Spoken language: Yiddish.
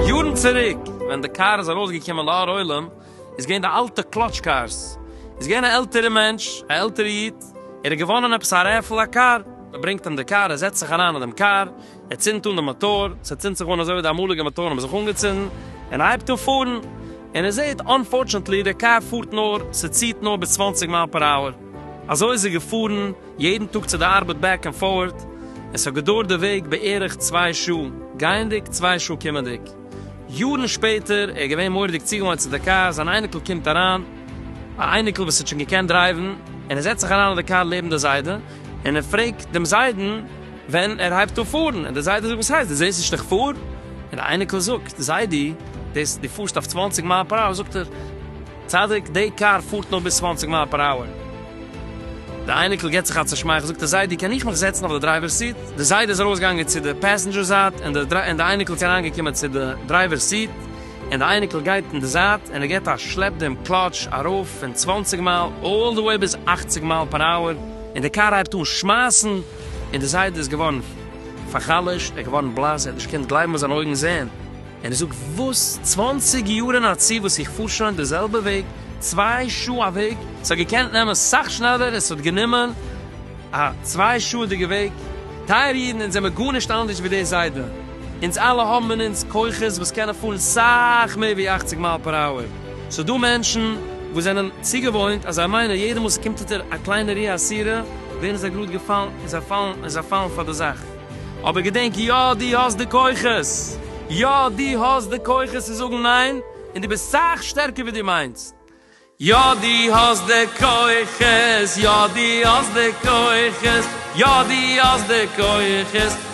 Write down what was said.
יארן צוריק ווען די קאר איז ארויס געקומען לאור עולם איז געווען די אלטע קלאטש קארס, איז געווען א עלטערע מענטש א עלטערע איד ער האט געוואנען עפעס א רעפעל א קאר, מען ברענגט אים די קאר ער זעצט זיך אריין אין דעם קאר, ער צינדט אן די מאטאר, ס'צינדט זיך אן אזוי ווי די אמאליגע מאטארן האבן זיך אנגעצינדן, און ער הייבט אן פארן, און ער זעט אנפארטשענטלי די קאר פארט נאר, ס'ציהט נאר ביז צוואַנציק מייל פער אווער, אזוי איז ער געפארן יעדן טאג צו די ארבעט בעק ענד פארט, און ס'האט געדויערט די וועג בערך צוויי שעה גייענדיג צוויי שעה קומענדיג, יארן שפעטער ער איז געווען מורא'דיג צוגעוואוינט צו די קאר, זיין אייניקל קומט אריין, א אייניקל וואס האט שוין געקענט דרייוון, און ער זעצט זיך אריין אין די קאר לעבן די זיידע, און ער פרעגט דעם זיידן, ווען ער הייבט אן פארן און די זיידע זאגט וואס הייסט דו זעסט נישט איך פאר? און די אייניקל זאגט זיידי דאס דו פארסט אויף צוואַנציק מייל פער אווער זאגט ער צדיק די קאר פארט נאר ביז צוואַנציק מייל פער אווער די אייניקל גיבט זיך א צושמייכל זאגט ער זיידי קען איך מיך זעצן אויף די דרייווער סיט די זיידע איז ארויס געגאנגען צו די פעסענדזשער זייט און די און די אייניקל איז אריין געקומען צו די דרייווער סיט און די אייניקל גייט אין די זייט און ער גיבט א שלעפ דעם קלאטש ארויף פון צוואַנציק מייל אלל די וועי ביז אַכציק מייל פער אווער און די קאר הייבט אן שמייסן. און דער זיידע איז געווארן פאר'חלש'ט, ער איז געווארן בלאס, ער האט נישט געקענט גלייבן וואס זיינע אויגן זעען, און ער זאגט, וואס? צוואנציג יאר אין א צי וואס איך פאר שוין די זעלבע וועג, צוויי שעה א וועג, ס'האט געקענט נעמען סאך שנעלער, עס האט גענומען א צוויי שעה'דיגע וועג, טייערע אידן, אונז זעמער גארנישט אנדערש ווי דער זיידע, אונז אלע האבן אין אונז כוחות וואס קענען פארן סאך מער ווי אכציג מייל פער אווער. ס'איז דא מענטשן וואס זענען צוגעוואוינט אז זיי מיינען יעדע מאל ס'קומט אונטער א קליינע רי א סירה ווערן זיי גראד געפאלן און זיי פאלן און זיי פאלן פאר די זאך. אבער געדענק יא דו האסט די כוחות יא דו האסט די כוחות צו זאגן ניין און דו ביסט סאך שטערקער ווי דו מיינסט יא דו האסט די כוחות יא דו האסט די כוחות יא דו האסט די כוחות.